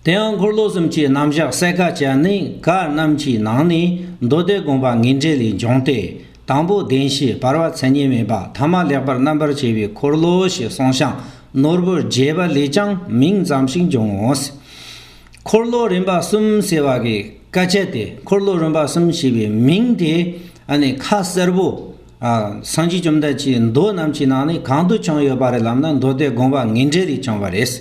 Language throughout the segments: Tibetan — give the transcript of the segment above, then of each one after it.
དེའང་འཁོར་ལོ་གསུམ་གྱི་རྣམ་གཞག་གསལ་ཁ་བྱས་ནས་ག་རྣམས་ཀྱི་ནང་ནས་མདོ་སྡེ་དགོངས་པ་ངེས་འགྲེལ་ལས་འབྱུང་སྟེ། དང་པོ་བདེན་བཞིའི་བར་བ་མཚན་ཉིད་མེད་པ་ཐ་མ་ལེགས་པར་རྣམ་པར་བྱས་པའི་འཁོར་ལོ་ཞེས་གསུངས་ཤིང་ནོར་བུར་རྒྱས་པ་ལས་ཀྱང་མིང་ཙམ་ཞིག་འབྱུང་ངོ། འཁོར་ལོ་རིམ་པ་གསུམ་ཟེར་བ་གྱི་བཀའ་ཁྱད་དེ་འཁོར་ལོ་རིམ་པ་གསུམ་ཞེས་པའི་མིང་དེ་ནི་ཁ་གསལ་བོ། སངས་རྒྱས་བཅོམ་ལྡན་གྱིས་མདོ་རྣམས་ཀྱི་ནང་ནས་གང་དུ་བྱུང་ཡོད་པ་རེད་ལབ་ན་མདོ་སྡེ་དགོངས་པ་ངེས་འགྲེལ་ལས་བྱུང་བ་རེད།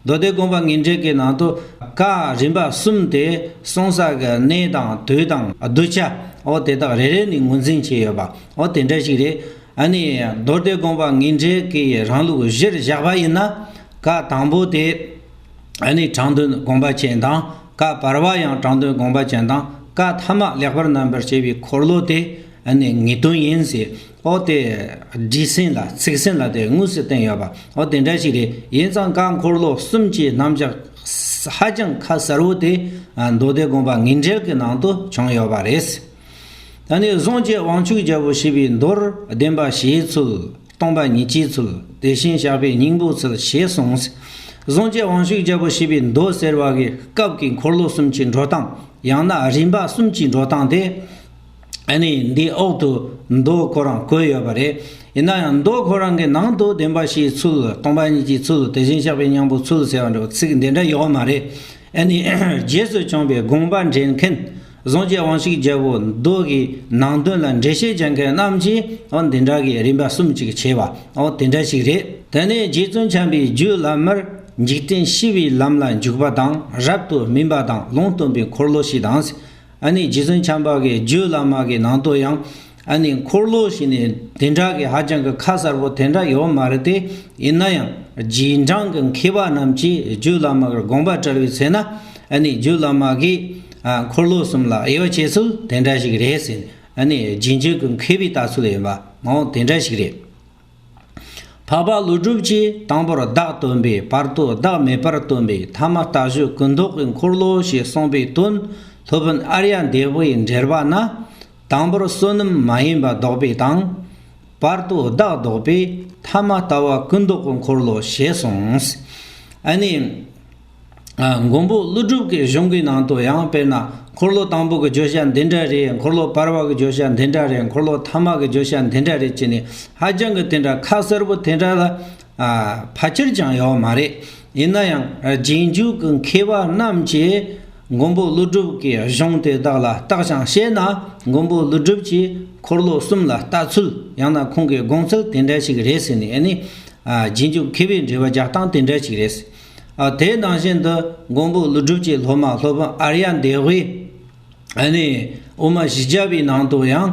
མདོ་སྡེ་དགོངས་པ་ངེས་འགྲེལ་གྱི་ནང་དུ། བཀའ་རིམ་པ་གསུམ་སྟེ་གསུང་བསགས་ཀྱི་གནས་དང་དུས་དང་གདུལ་བྱ་འོ་དེ་དག་རེ་རེ་ནས་ངོས་འཛིན་བྱས་ཡོད་པ་འོ་དེ་འདྲ་ཞིག་རེད། ཨ་ནི་མདོ་སྡེ་དགོངས་པ་ངེས་འགྲེལ་གྱི་རང་ལུགས་གཞིར་བཞག་པ་ཡིན་ན། བཀའ་དང་པོ་དེ་ཨ་ནི་དྲང་དོན་དགོངས་པ་ཅན་དང་བཀའ་བར་བ་ཡང་དྲང་དོན་དགོངས་པ་ཅན་དང་བཀའ་ཐ་མ་ལེགས་པར་རྣམ་པར་དཔྱད་པའི་འཁོར་ལོ་དེ་ཨ་ནི་ངེས་དོན་ཡིན་ཟེར། ཨོ་དེ། བྲིས་ཟིན་ལ་ཚིག་ཟིན་ལ་དེ་དངོས་སུ་བསྟན་ཡོད་པ་ཨོ་དེ་འདྲ་ཞིག་རེད་ཡིན་ཙང་བཀའ་འཁོར་ལོ་གསུམ་གྱི་རྣམ་བཞག་ཧ་ཅང་ཁ་གསལ་བོ་དེ་མདོ་སྡེ་དགོངས་པ་ངེས་འགྲེལ་གྱི་ནང་དུ་བྱུང་ཡོད་པ་རེད། ད་ནི་གཟོང་བཅས་དབང་ཕྱུག་རྒྱལ་པོ་ཞེས་པའི་མདོར་བདེན་པ་ཞེས་ཚུལ། སྟོང་པ་ཉིད་ཀྱི་ཚུལ། དེ་བཞིན་ཞགས་པའི་སྙིང་པོའི་ཚུལ་ཞེས་གསུངས། གཟོང་བཅས་དབང་ཕྱུག་རྒྱལ་པོ་ཞེས་པའི་མདོ་ཟེར་བ་གྱི་སྐབས་ཀྱི་འཁོར་ལོ་གསུམ་གྱི་འགྲོ་སྟངས་ཡང་ན་རིམ་པ་གསུམ་གྱི་འགྲོ་སྟངས་དེ། ནི་འདིའི་འོག་ཏུ་མདོ་ཁོ་རང་བཀོད་ཡོད་པ་རེད། ཡིན་ན་ཡང་མདོ་ཁོ་རང་གི་ནང་དུ་བདེན་པ་བཞིའི་ཚུལ། སྟོང་པ་ཉིད་ཀྱི་ཚུལ་དེ་བཞིན་གཤེགས་པའི་སྙིང་པོའི་ཚུལ་ཟེར་བ་འདྲ་བ་ཚིག་འདི་འདྲ་ཡོད་མ་རེད། ནི། རྗེས་སུ་བྱུང་བའི་དགོངས་པ་འགྲེལ་མཁན། གཟུངས་ཀྱི་དབང་ཞིག་རྒྱལ་པོ་མདོ་དགེའི་ནང་དོན་ལ་འགྲེལ་བཤད་བྱེད་མཁན་རྣམས་ཀྱིས་འོ་འདི་འདྲ་གི་རིམ་པ་གསུམ་ཅིག་བྱས་པ་འོ་དེ་འདྲ་ཞིག་རེད། དེ་ནས་རྗེ་བཙུན་བྱམས་པའི་རྒྱུད་བླ་མར། འཇིག་རྟེན་ཤི་བའི་ལམ་ལ་འཇུག་པ་དང་རབ་ཏུ་སྨིན་པ་དང་ལུང་སྟོན་པའི་འཁོར་ལོ་ཞིག་དང། ཨ་ནི་རྗེ་བཙུན་བྱམས་པ་གའི་རྒྱུད་བླ་མ་གའི་ནང་དུ་ཡང་ཨ་ནི་འཁོར་ལོ་ཞིག་ནི་དེ་འདྲ་གི་ཧ་ཅང་གི་ཁ་གསར་པོ་དེ་འདྲ་ཡོད་མ་རེད་དེ་ཡིན་ན་ཡང་རྗེས་འབྲང་གི་མཁས་པ་རྣམས་ཀྱིས་རྒྱུད་བླ་མ་གར་དགོངས་པ་བཀྲལ་བའི་ཚེ་ན་ཨ་ནི་རྒྱུད་བླ་མ་གའི་འཁོར་ལོ་གསུམ་ལ་དབྱེ་བ་བྱེད་ཚུལ་དེ་འདྲ་ཞིག་རེད་ཟེར་ཨ་ནི་རྗེས་འཇུག་གི་མཁས་པའི་ལྟ་ཚུལ་ཡིན་པ་མང་བོ་དེ་འདྲ་ཞིག་རེད། འཕགས་པ་ཀླུ་སྒྲུབ་ཀྱིས་དང་པོར་བདག་སྟོན་པའི་བར་དུ་བདག་མེད་པར་སྟོན་པའི་ཐ་མ་ལྟ་བཞི་ཀུན་རྟོག་གི་འཁོར་ལོ་ཞེས་གསུངས་པའི་དོན་སློབ་དཔོན་ཨར་ཡ་འདས་པོའི་འགྲེལ་པ་ན། དང་པོར་བསོད་ནམས་མ་ཡིན་པ་བཟློག་པའི་དང། བར་དུ་བདག་བཟློག་པའི་ཐ་མ་ལྟ་བ་ཀུན་རྟོག་གི་འཁོར་ལོ་ཞེས་གསུངས། ཨཱ་ནི། མགོན་པོ་ཀླུ་སྒྲུབ་ཀྱི་གཞུང་གི་ནང་དུ་ཡང་དཔེར་ན་འཁོར་ལོ་དང་པོ་གི་བརྗོད་བྱ་འདི་འདྲ་རེད་འཁོར་ལོ་བར་བ་གི་བརྗོད་བྱ་འདི་འདྲ་རེད་འཁོར་ལོ་མཐའ་མ་གི་བརྗོད་བྱ་འདི་འདྲ་རེད་ཅེས་ནི་ཧ་ཅང་གི་དེ་འདྲ་ཁ་གསལ་པོ་དེ་འདྲ་ལ་ཕ་ཁྱེར་ཀྱང་ཡོད་མ་རེད་ཡིན་ན་ཡང་རྗེས་འཇུག་གི་མཁས་པ་རྣམས་ཀྱིས་མགོན་པོ་ཀླུ་སྒྲུབ་ཀྱི་གཞུང་དེ་དག་ལ་བརྟག་ཞིང་དཔྱད་ན་མགོན་པོ་ཀླུ་སྒྲུབ་ཀྱིས་འཁོར་ལོ་གསུམ་ལ་བལྟ་ཚུལ་ཡང་ན་ཁོང་གི་དགོངས་ཚུལ་དེ་འདྲ་ཞིག་རེད་ཟེར་ནས་ནི་རྗེས་འཇུག་མཁས་པའི་འགྲེལ་བ་རྒྱག་སྟངས་དེ་འདྲ་ཞིག་རེད། དེའི་ནང་བཞིན་དུ་མགོན་པོ་ཀླུ་སྒྲུབ་ཀྱི་སློབ་མ་སློབ་དཔོན་ཨར་ཡ་འདས་དབུས་དབུ་མ་བཞི་བརྒྱ་པའི་ནང་དུ་ཡང་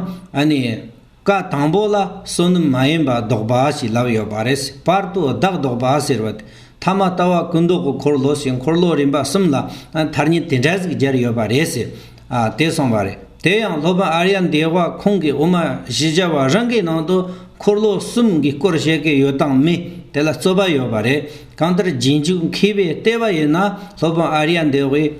བཀའ་དང་པོ་ལ་བསོད་ནམས་མ་ཡིན་པ་བཟློག་པ་ཞེས་ལབ་ཡོད་པ་རེད་བར་དུ་བདག་བཟློག་པ་ཟེར་བ་དེ་ཐ་མ་ལྟ་བ་སྐུ་མདོག་གི་འཁོར་ལོ་ཞེས་འཁོར་ལོ་རིམ་པ་གསུམ་ལ་མཐར་ཉིན་དེ་འདྲ་ཟིག་སྦྱར་ཡོད་པ་རེད་ཟེར། ཨ་དེ་སོང་བ་རེད་དེ་ཡང་སློབ་དཔོན་ཨ་རྱ་འདས་བ་ཁོང་གིས་འོ་མ་བཞི་སྦྱར་བ་རང་གི་ནང་དུ་འཁོར་ལོ་གསུམ་གྱི་སྐོར་བཤད་ཀྱི་ཡོད་སྟངས་མི་དེ་ལ་རྩོད་པ་ཡོད་པ་རེད་གང་ལྟར་རྗེས་འཇུག་མཁས་པའི་ལྟས་བ་ཡིན་ན་སློབ་དཔོན་ཨ་རྱ་འདས་བས་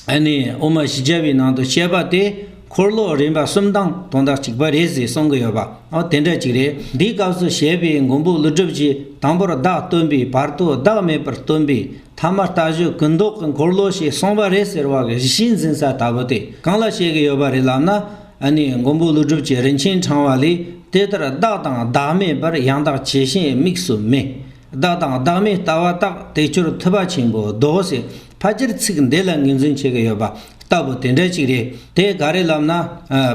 ཨ་ནི་འོ་མ་བཞི་སྦྱར་བའི་ནང་དུ་བཤད་པ་དེ་འཁོར་ལོ་རིམ་པ་གསུམ་དང་དོན་དག་གཅིག་པ་རེད་ཟེར་གསུང་གི་ཡོད་པ་འོ་དེ་འདྲ་ཅིག་རེད་འདིའི་སྐབས་སུ་བཤད་པའི་མགོན་པོ་ཀླུ་སྒྲུབ་ཀྱིས་དང་པོར་བདག་སྟོན་པའི་བར་དུ་བདག་མེད་པར་སྟོན་པའི་མཐའ་མ་ལྟ་ཞོག་གུ་མདོག་གི་འཁོར་ལོ་ཞིག་སོང་བ་རེད་ཟེར་བ་གི་གཞི་འཛིན་ས་ལྟ་བུ་དེ་གང་ལ་བཤད་གི་ཡོད་པ་རེད་ལབ་ན་ཨ་ནེ་མགོན་པོ་ཀླུ་སྒྲུབ་ཀྱི་རིན་ཆེན་འཕྲང་བ་ལས་དེ་ལྟར་བདག་དང་བདག་མེད་པར་ཡང་དག་ཇི་བཞིན་དམིགས་སུ་མེད་བདག་དང་བདག་མེད་ལྟ་བ་རྟག་དེ་ཆོས་ཐུབ་པ་ཆེན་པོ་རྡོ་རྗེ་ཕ་སྤྱིར་ཚིག་འདི་ལ་ངོས་འཛིན་བྱེད་གི་ཡོད་པ་ལྟ་བུ་དེ་འདྲ་ཅིག་རེད་དེ་ག་རེ་ལབ་ན་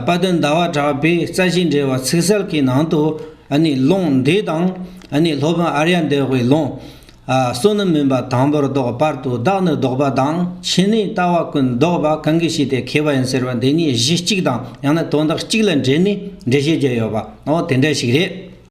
དཔལ་དོན་ཟླ་བ་གྲགས་པའི་རྩ་ཆེན་འགྲེལ་བ་ཚིག་གསལ་གྱི་ནང་དུ་ཨ་ནེ་ལུང་འདི་དང་ཨ་ནེ་སློབ་དཔོན་ཨརྱ་འདས་དབའི་ལུང། བསོད་ནམས་མིན་པ་དང་པོར་བཟློག་བར་དུ་བདག་ནི་བཟློག་པ་དང་ཕྱི་ནས་ལྟ་བ་ཀུན་བཟློག་པ་གང་གིས་ཤེས་ཏེ་མཁས་པ་ཡིན་ཟེར་བ་འདི་གཉིས་གཞི་གཅིག་དང་ཡང་ན་དོན་དག་གཅིག་ལ་འབྲེལ་ནས་འགྲེལ་བཤད་བརྒྱ་ཡོད་པའོ་དེ་འདྲ་ཞིག་རེད།